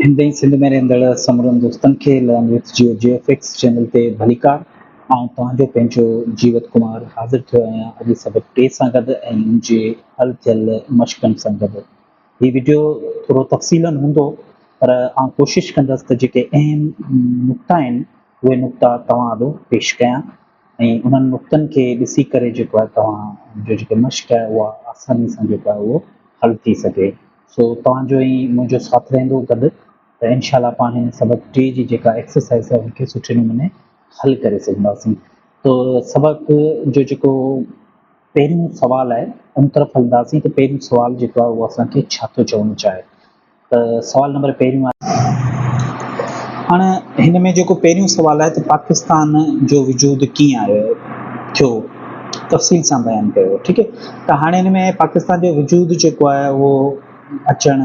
هند ۽ سنڌ ۾ رهندڙ سمورن دوستن کي لانگ وٿ جيو جي ايف ايڪس چينل تي ڀليڪار آئون توهان جو پنهنجو جيوت ڪمار حاضر ٿيو آهيان اڄ سبق ٽي سان گڏ ۽ ان جي حل ٿيل مشقن سان گڏ هي ويڊيو ٿورو تفصيلا هوندو پر آئون ڪوشش ڪندس ته جيڪي اهم نقطا آهن اهي نقطا توهان آڏو پيش ڪيان ۽ انهن نقطن کي ڏسي ڪري جيڪو آهي توهان جو جيڪي مشق آهي اها آساني سان جيڪو آهي اهو حل ٿي سگهي سو توهان جو ۽ منهنجو ساٿ رهندو گڏ ته انشاء الله پاڻ هن سبق ٽي جي جيڪا ايڪسرسائز آهي ان کي سٺي نموني حل ڪري سگهنداسين تو سبق جو جيڪو پهريون سوال آهي ان طرف هلنداسين ته پهريون سوال جيڪو آهي اهو اسان کي ڇا ٿو چوڻ چاهي ته سوال نمبر پهريون آهي هاڻ هن ۾ جيڪو پهريون سوال آهي ته پاڪستان جو وجود ڪيئن آيو ٿيو تفصيل سان بيان ڪيو ٺيڪ ڪهاڻين ۾ پاڪستان جو وجود جيڪو آهي اهو اچڻ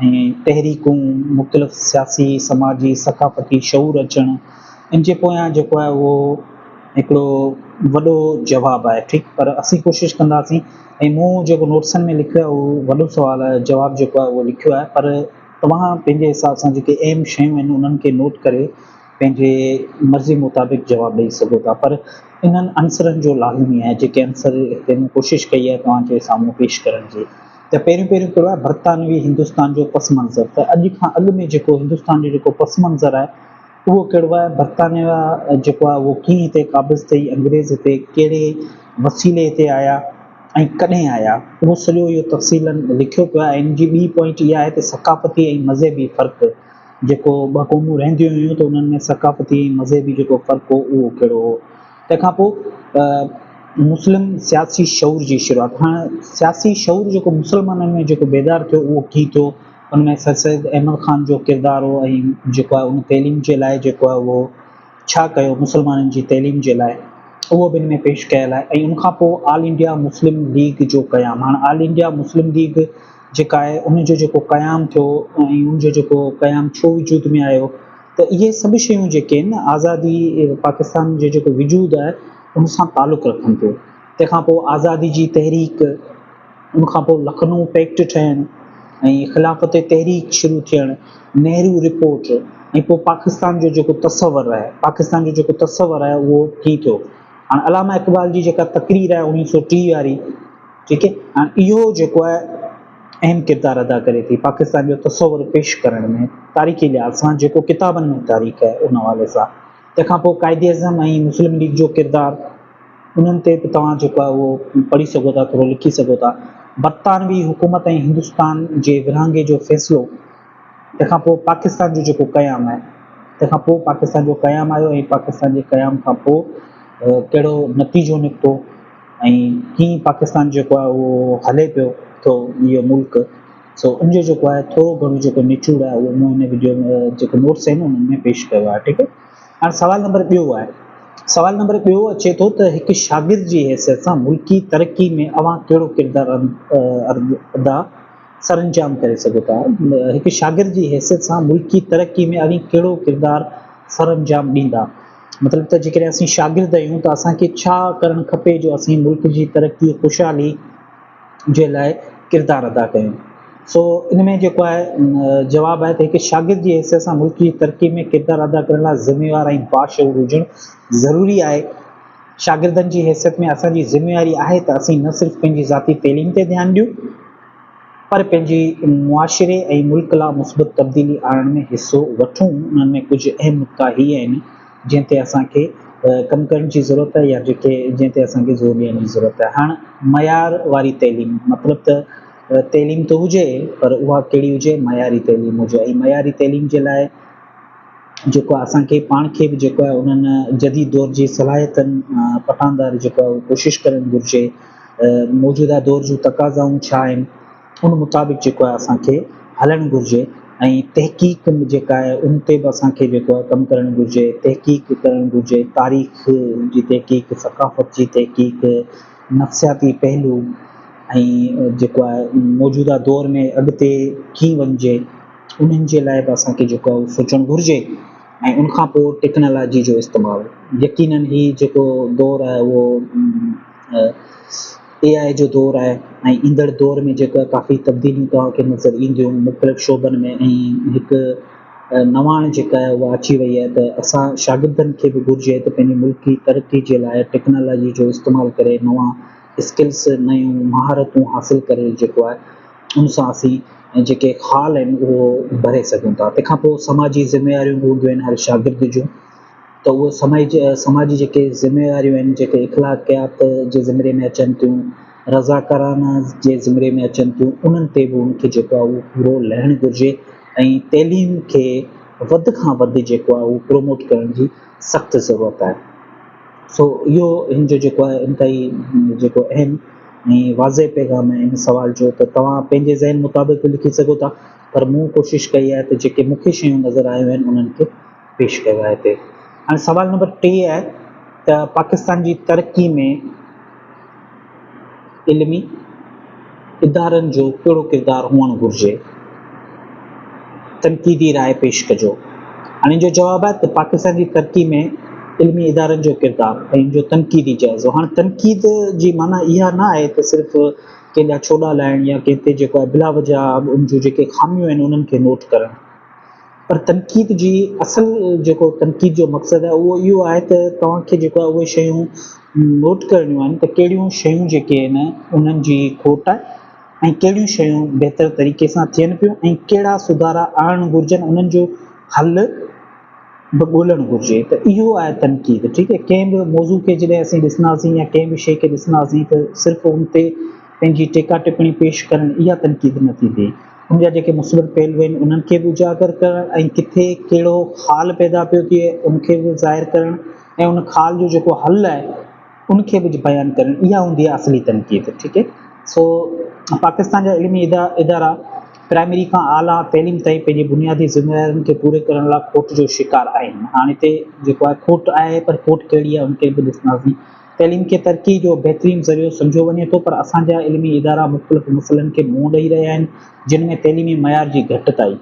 ۽ تحريڪون مختلف سياسي، سماجي، ثقافتي شعور اچڻ ان جي پويان جيڪو آهي اهو هڪڙو وڏو جواب آهي ٺيڪ پر اسين ڪوشش ڪنداسين ۽ مون جيڪو نوٽسن ۾ لکيو آهي اهو وڏو سوال آهي جواب جيڪو آهي اهو لکيو آهي پر توهان پنهنجي حساب سان جيڪي اهم شيون آهن انهن کي نوٽ ڪري پنهنجي مرضي مطابق جواب ڏئي سگهو ٿا پر انهن عنصرن جو لازمي آهي جيڪي عنصر هتي مون ڪوشش ڪئي آهي توهان جي سامهون پيش ڪرڻ جي ته پهريون پهريون ڪهڙو آهي برطانوي هندستان جو پس منظر ته اڄ کان اڳ ۾ جيڪو هندستان جو جيڪو پس منظر آهي اهو ڪهڙو آهي برطانيا جيڪو آهي اهو ڪيئن هتي قابض ٿئي انگريز هتي ڪهڙي وسيلي هتي آيا ۽ ڪڏهن آيا اهو سڄو اهو تفصيلن لکيو پيو آهي ان جي ٻي پوائنٽ اها آهي ته ثقافتي ۽ مذهبي فرق جيڪو ٻه قومون رهنديون هيون ته انهن ۾ ثقافتي ۽ مذهبي جيڪو فرق هو اهو ڪهڙو هو. تنهن کان پوء مسلم سياسي شعور جي شروعات. هاڻ سياسي شعور جيڪو مسلمانن ۾ جيڪو بيدار ٿيو اهو ڪيئن ٿيو؟ ان ۾ سر سيد احمد خان جو ڪردار هو ۽ جيڪو آهي ان تعليم جي لاء جيڪو آهي اهو ڇا ڪيو مسلمانن جي تعليم جي لاء اهو به ان ۾ پيش ڪيل آهي ۽ ان کان پوء آل انڊيا مسلم ليگ جو قيام هاڻ آل انڊيا مسلم ليگ جيڪا آهي ان جو جيڪو قيام ٿيو ۽ ان جو جيڪو قيام ڇو وجود ۾ آيو ته اهي سڀ شيون جيڪي آهن آزادي پاڪستان جو جيڪو وجود آهي ان سان تعلق رکن ٿيون تنهن کان پوء آزادي جي تحريڪ ان کان پوء لکنو پيڪٽ ٺهڻ ۽ خلافتي تحريڪ شروع ٿيڻ، نهرو رپورٽ ۽ پوء پاڪستان جو جيڪو تصور آهي، پاڪستان جو جيڪو تصور آهي اهو ڪي ٿيو. هاڻ علامه اقبال جي جيڪا تقرير آهي اوڻيهه سؤ ٽيهه واري ٺيڪ هي هاڻ اهو جيڪو آهي اهم ڪردار ادا ڪري ٿي پاڪستان جو تصور پيش ڪرڻ ۾ تاريخي لحاظ سان جيڪو ڪتابن ۾ تاريخ آهي ان حوالي سان تنهن کان پوء قائد اعظم ۽ مسلم ليگ جو ڪردار انهن تي به توهان جيڪو آهي اهو پڙهي سگهو ٿا، ٿورو لکي سگهو ٿا. برطانوي حڪومت ۽ هندستان جي ورهاڱي جو فيصلو، تنهن کان پوء پاڪستان جو جيڪو قيام آهي، تنهن کان پوء پاڪستان جو قيام آيو ۽ پاڪستان جي قيام کان پوء ڪهڙو نتيجو نڪتو ۽ ڪيئن پاڪستان جيڪو آهي اهو هلي پيو ٿو اهو ملڪ سو ان جو جيڪو آهي ٿورو گهڻو جيڪو نچوڙ آهي اهو مون هن وڊيو ۾ جيڪو نوٽس آهن انهن ۾ پيش ڪيو آهي ٺيڪ هاڻ سوال نمبر ٻيو آهي. سوال نمبر ٻيو اچي ٿو ته هڪ شاگرد جي حيثيت سان ملڪي ترقي ۾ اوهان ڪهڙو ڪردار ادا سرانجام ڪري سگهو ٿا؟ هڪ شاگرد جي حيثيت سان ملڪي ترقي ۾ اوهين ڪهڙو ڪردار سرانجام ڏيندا؟ مطلب ته جيڪڏهن اسين شاگرد آهيون ته اسان کي ڇا ڪرڻ کپي جو اسين ملڪ جي ترقي، خوشحالي، جي لاء ڪردار ادا ڪيون. سو ان ۾ جيڪو آهي جواب آهي ته هڪ شاگرد جي حيثيت سان ملڪ جي ترقي ۾ ڪردار ادا ڪرڻ لاء ذميوار ۽ باشعور هجڻ ضروري آهي. شاگردن جي حيثيت ۾ اسان جي ذميواري آهي ته اسين نه صرف پنهنجي ذاتي تعليم تي ڌيان ڏيون پر پنهنجي معاشري ۽ ملڪ لا مثبت تبديلي آڻڻ ۾ حصو وٺون. انهن ۾ ڪجهه اهم نقطا هي آهن. جنهن تي اسان کي ڪم ڪرڻ جي ضرورت آهي يا جتي جنهن تي اسان کي زور ڏيڻ جي ضرورت آهي. هاڻ معيار واري تعليم مطلب ته تعليم ته هجي پر اها ڪهڙي هجي معياري تعليم هجي ۽ معياري تعليم جي لاء جيڪو اسان کي پاڻ کي به جيڪو آهي انهن جديد دور جي صلاحيتن پٺاندار جيڪو آهي اها ڪوشش ڪرڻ گهرجي موجوده دور جون تقاضائون ڇا آهن ان مطابق جيڪو آهي اسان کي هلڻ گهرجي ۽ تحقيق جيڪا آهي ان تي به اسان کي جيڪو آهي ڪم ڪرڻ گهرجي، تحقيق ڪرڻ گهرجي، تاريخ جي تحقيق، ثقافت جي تحقيق، نفسياتي پهلو ۽ جيڪو آهي موجوده دور ۾ اڳتي ڪيئن وڃجي انهن جي لاء به اسان کي جيڪو آهي سوچڻ گهرجي ۽ ان کان پوء ٽيڪنالاجي جو استعمال يقينن هي جيڪو دور آهي اهو اي آء جو دور آهي ۽ ايندڙ دور ۾ جيڪا ڪافي تبديليون توهان کي نظر اينديون مختلف شعبن ۾ ۽ هڪ نواڻ جيڪا آهي اها اچي وئي آهي ته اسان شاگردن کي به گهرجي ته پنهنجي ملڪ جي ترقي جي لاء ٽيڪنالاجي جو استعمال ڪري نوان اسڪلس نيون مهارتون حاصل ڪري جيڪو آهي ان سان اسين ۽ جيڪي خال آهن اهو ڀري سگهون ٿا تنهن کان پوء سماجي ذميواريون به هونديون آهن هر شاگرد جون ته اهي سماج سماجي جيڪي ذميواريون آهن جيڪي اخلاقيات جي ذمري ۾ اچن ٿيون رضاڪارانه جي ذمري ۾ اچن ٿيون انهن تي به ان کي جيڪو آهي اهو پورو لهڻ گهرجي ۽ تعليم کي وڌ کان وڌ جيڪو آهي اهو پروموٽ ڪرڻ جي سخت ضرورت آهي سو اهو هن جو جيڪو آهي انتهائي جيڪو اهم ۽ واضح پيغام آهي هن سوال جو ته توهان پنهنجي ذهن مطابق به لکي سگهو ٿا پر مون ڪوشش ڪئي آهي ته جيڪي مون کي شيون نظر آيون آهن انهن کي پيش ڪيو آهي هتي هاڻي سوال نمبر ٽي آهي ته پاڪستان جي ترقي ۾ علمي ادارن جو ڪهڙو ڪردار هئڻ گهرجي تنقيدي راء پيش ڪجو هاڻي جو جواب آهي ته پاڪستان جي ترقي ۾ علمي ادارن جو ڪردار ۽ ان جو تنقيدي جائزو هاڻي تنقيد جي معنی اها نه آهي ته صرف ڪنهن جا ڇوڏا لاهڻ يا ڪنهن تي جيڪو بلا وجه ان جون جيڪي خاميون آهن انهن کي نوٽ ڪرڻ پر تنقيد جي اصل جيڪو تنقيد جو مقصد آهي اهو اهو آهي ته توهان کي جيڪو آهي اهي شيون نوٽ ڪرڻيون آهن ته ڪهڙيون شيون جيڪي آهن انهن جي کوٽ آهي ۽ ڪهڙيون شيون بهتر طريقي سان ٿين پيون ۽ ڪهڙا سڌارا آڻڻ گهرجن انهن جو حل به ڳولڻ گهرجي ته اهو آهي تنقيد ٺيڪ آهي ڪنهن به موضوع کي جڏهن اسين ڏسنداسين يا ڪنهن به شيء کي ڏسنداسين ته صرف ان تي پنهنجي ٽيڪا ٽپڻي پيش ڪرڻ اها تنقيد نه ٿيندي ان جا جيڪي مثبت پهلو آهن انهن کي به اجاگر ڪرڻ ۽ ڪٿي ڪهڙو خال پيدا پيو ٿئي ان کي به ظاهر ڪرڻ ۽ ان خال جو جيڪو حل آهي ان کي به بيان ڪرڻ اها هوندي آهي اصلي تنقيد ٺيڪ آهي سو پاڪستان جا علمي ادارا پرائمري کان اعليٰ تعليم تائين پنهنجي بنيادي ذميوارين کي پوري ڪرڻ لاء کوٽ جو شڪار آهن هاڻ هتي جيڪو آهي کوٽ آهي پر کوٽ ڪهڙي آهي ان کي به ڏسنداسين تعليم کي ترقي جو بهترين ذريعو سمجهيو وڃي ٿو پر اسان جا علمي ادارا مختلف مسئلن کي منهن ڏئي رهيا آهن جن ۾ تعليمي معيار جي گهٽتائي،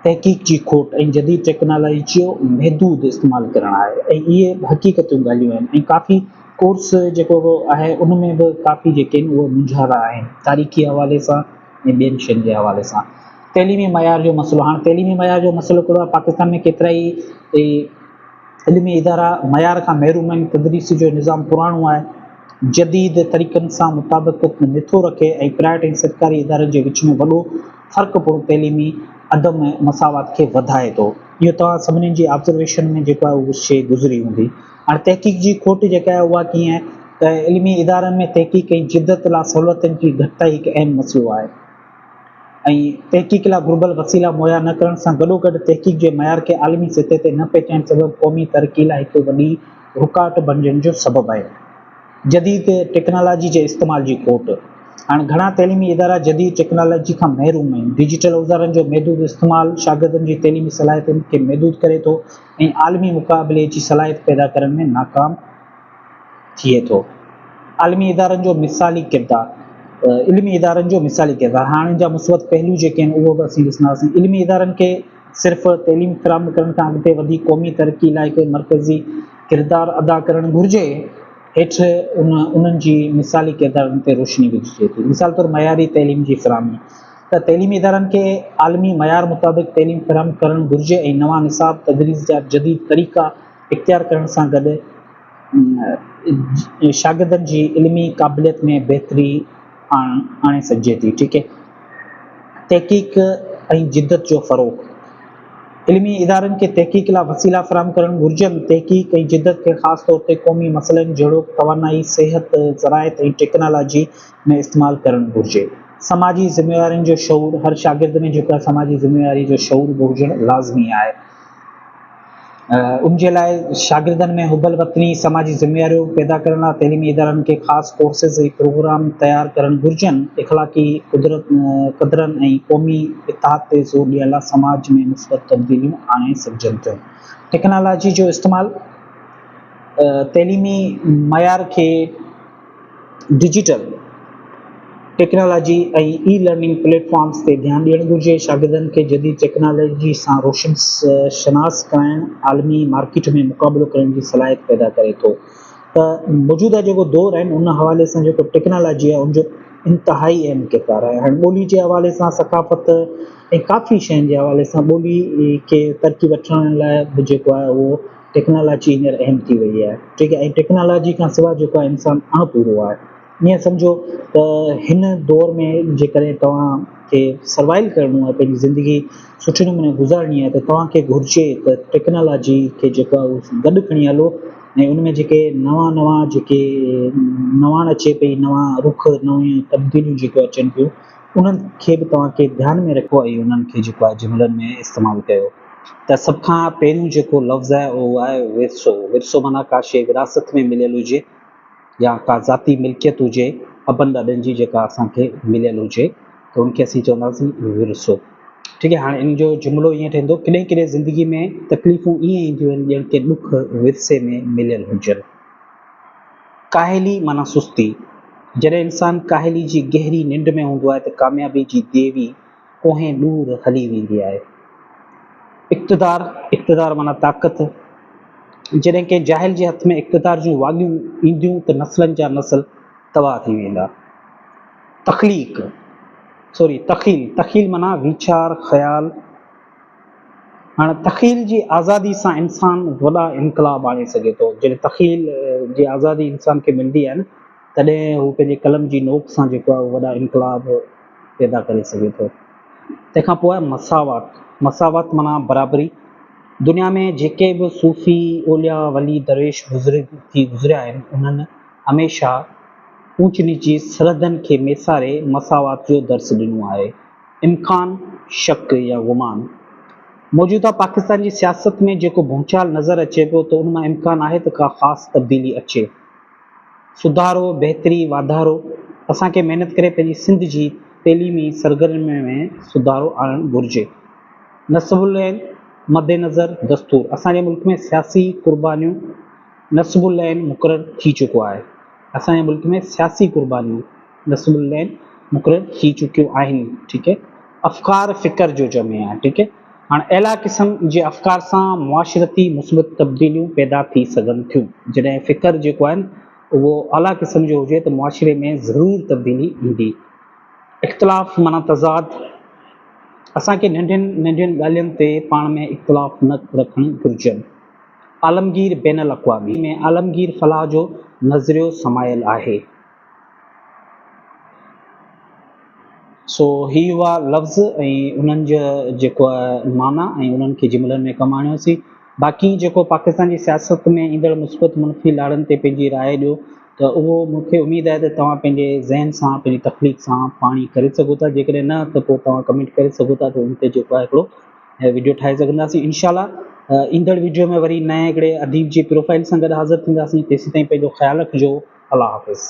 تحقيق جي کوٽ ۽ جديد ٽيڪنالاجي جو محدود استعمال ڪرڻ آهي ۽ اهي به حقيقتون ڳالهيون آهن ۽ ڪافي ڪورس جيڪو آهي ان ۾ به ڪافي جيڪي آهن اهي مونجهارا آهن تاريخي حوالي سان ۽ ٻين شين جي حوالي سان تعليمي معيار جو مسئلو هاڻ تعليمي معيار جو مسئلو ڪهڙو آهي پاڪستان ۾ ڪيترائي علمي ادارا معيار کان محروم آهن، تدريس جو نظام پراڻو آهي، جديد طريقن سان مطابقت نٿو رکي ۽ پرائيويٽ ۽ سرڪاري ادارن جي وچ ۾ وڏو فرق پڻ تعليمي عدم مساوات کي وڌائي ٿو. اهو توهان سڀني جي آبزرويشن ۾ جيڪو آهي اها شيء گذري هوندي. هاڻي تحقيق جي کوٽ جيڪا آهي اها ڪيئن ته علمي ادارن ۾ تحقيق ۽ جدت لا سهولتن جي گهٽتائي هڪ اهم مسئلو آهي. ۽ تحقيق لاء گهربل وسيلا مهيا نه ڪرڻ سان گڏوگڏ تحقيق جي معيار کي عالمي سطح تي نه پهچائڻ سبب قومي ترقي لاء هڪ وڏي رڪاوٽ بڻجڻ جو سبب آهي. جديد ٽيڪنالاجي جي استعمال جي کوٽ، هاڻ گهڻا تعليمي ادارا جديد ٽيڪنالاجي کان محروم آهن، ڊجيٽل اوزارن جو محدود استعمال شاگردن جي تعليمي صلاحيتن کي محدود ڪري ٿو ۽ عالمي مقابلي جي صلاحيت پيدا ڪرڻ ۾ ناڪام ٿئي ٿو. عالمي ادارن جو مثالي ڪردار، علمي ادارن جو مثالي ڪردار، هاڻ ان جا مثبت پهلو جيڪي آهن اهو به اسين ڏسنداسين. علمي ادارن کي صرف تعليم فراهم ڪرڻ کان اڳتي وڌي قومي ترقي لاء هڪ مرڪزي ڪردار ادا ڪرڻ گهرجي. هيٺ انهن جي مثالي ڪردارن تي روشني وجهجي ٿي. مثال طور معياري تعليم جي فراهمي ته تعليمي ادارن کي عالمي معيار مطابق تعليم فراهم ڪرڻ گهرجي ۽ نوان نصاب، تدريس جا جديد طريقا، اختيار ڪرڻ سان گڏ شاگردن جي علمي قابليت ۾ بهتري آڻي سگهجي ٿي. ٺيڪ اهي تحقيق ۽ جدت جو فروغ، علمي ادارن کي تحقيق لاء وسيلا فراهم ڪرڻ گهرجن، تحقيق ۽ جدت کي خاص طور تي قومي مسئلن جهڙوڪ توانائي، صحت، زراعت ۽ ٽيڪنالاجي ۾ استعمال ڪرڻ گهرجي. سماجي ذميوارين جو شعور، هر شاگرد ۾ جيڪا سماجي ذميواري جو شعور به هجڻ لازمي آهي. ان جي لاء شاگردن ۾ حب الوطني، سماجي ذميواريون پيدا ڪرڻ لاء تعليمي ادارن کي خاص ڪورسز ۽ پروگرام تيار ڪرڻ گهرجن، اخلاقي قدرن ۽ قومي اتحاد تي زور ڏيڻ لاء سماج ۾ مثبت تبديليون آڻي سگهجن ٿيون. ٽيڪنالاجي جو استعمال تعليمي معيار کي. Digital technology ۽ e learning platforms تي ڌيان ڏيڻ گهرجي، شاگردن کي جديد ٽيڪنالاجي سان روشن شناس ڪرائڻ عالمي مارڪيٽ ۾ مقابلو ڪرڻ جي صلاحيت پيدا ڪري ٿو ته موجوده جيڪو دور آهن ان حوالي سان جيڪو ٽيڪنالاجي آهي ان جو انتهائي اهم ڪردار آهي هاڻي ٻولي جي حوالي سان ثقافت ۽ ڪافي شين جي حوالي سان ٻولي کي ترقي وٺرائڻ لاء به جيڪو آهي اهو ٽيڪنالاجي هينئر اهم ٿي وئي آهي ٺيڪ آهي ۽ ٽيڪنالاجي کان سواء جيڪو آهي انسان اڻپورو آهي ائين سمجهو ته هن دور ۾ جيڪڏهن توهان کي سروائيو ڪرڻو آهي پنهنجي زندگي سٺي نموني گذارڻي آهي ته توهان کي گهرجي ته ٽيڪنالاجي کي جيڪو آهي اهو گڏ کڻي هلو ۽ ان ۾ جيڪي نوان نوان جيڪي نواڻ اچي پئي نوان رخ نويون تبديليون جيڪو اچن پيون انهن کي به توهان کي ڌيان ۾ رکو ۽ انهن کي جيڪو آهي جملن ۾ استعمال ڪيو ته سڀ کان پهريون جيڪو لفظ آهي اهو آهي ورثو، ورثو معنيٰ ڪا شيء وراثت ۾ مليل هجي يا ڪا ذاتي ملڪيت هجي ابن ڏاڏن جي جيڪا اسان کي مليل هجي ته ان کي اسين چونداسين ورثو ٺيڪ آهي هاڻي ان جو جملو ائين ٺهندو ڪڏهن ڪڏهن زندگي ۾ تڪليفون ائين اينديون آهن ڄڻ ڪي ڏک ورثي ۾ مليل هجن ڪاهلي معنيٰ سستي جڏهن انسان ڪاهلي جي گهري ننڊ ۾ هوندو آهي ته ڪاميابي جي ديوي ڪوهين ڏور هلي ويندي آهي. اقتدار، اقتدار معنيٰ طاقت، جڏهن ڪنهن جاهل جي هٿ ۾ اقتدار جون واڳيون اينديون ته نسلن جا نسل تباهه ٿي ويندا. تخليق، سوري تخيل، تخيل معنيٰ ويچار، خيال. هاڻ تخيل جي آزادي سان انسان وڏا انقلاب آڻي سگهي ٿو. جڏهن تخيل جي آزادي انسان کي ملندي آهي نه تڏهن هو پنهنجي قلم جي نوڪ سان جيڪو آهي اهو وڏا انقلاب. پيدا ڪري سگهي ٿو. تنهن کان پوء مساوات، مساوات معنيٰ برابري، دنيا ۾ جيڪي به صوفي، اولياء، ولي، درويش بزرگ ٿي گذريا آهن، انهن هميشه اوچ نيچ جي سرحدن کي ميساري مساوات جو درس ڏنو آهي. امڪان، شڪ يا گمان، موجوده پاڪستان جي سياست ۾ جيڪو ڀونچال نظر اچي پيو ته ان مان امڪان آهي ته ڪا خاص تبديلي اچي. سڌارو، بهتري، واڌارو، اسان کي محنت ڪري پنهنجي سنڌ جي تعليمي سرگرمين ۾ سڌارو آڻڻ گهرجي. نصب العين مدنظر دستور اسان جي ملڪ ۾ سياسي قربانيون نصب العين مقرر ٿي چڪو آهي. اسان جي ملڪ ۾ سياسي قربانيون نصب العين مقرر ٿي چڪيون آهن. ٺيڪ هي افڪار فڪر جو جمع آهي. ٺيڪ هي. هاڻ اعليٰ قسم جي افڪار سان معاشرتي مثبت تبديليون پيدا ٿي سگهن ٿيون. جڏهن فڪر جيڪو آهي اهو اعليٰ قسم جو هجي ته معاشري ۾ ضرور تبديلي ايندي. اختلاف معنيٰ تضاد. اسان کي ننڍين ننڍين ڳالهين تي پاڻ ۾ اختلاف نه رکڻ گهرجن. عالمگير بين الاقوامي ۾ عالمگير فلاح جو نظريو سمايل آهي. سو هي هئا لفظ ۽ انهن جا جيڪو معنيٰ ۽ انهن کي جملن ۾ ڪم آڻيوسين. باقي جيڪو پاڪستان جي سياست ۾ ايندڙ مثبت منفي لاڙن تي پنهنجي راء ڏيو ته اهو مون کي اميد آهي ته توهان پنهنجي ذهن سان پنهنجي تخليق سان پاڻ ئي ڪري سگهو ٿا جيڪڏهن نه ته پوء توهان ڪمينٽ ڪري سگهو ٿا ته ان تي جيڪو آهي هڪڙو وڊيو ٺاهي سگهنداسين انشاء الله ايندڙ وڊيو ۾ وري نئين هڪڙي اديب جي پروفائيل سان گڏ حاضر ٿينداسين تيسين تائين پنهنجو خيال رکجو الله حافظ.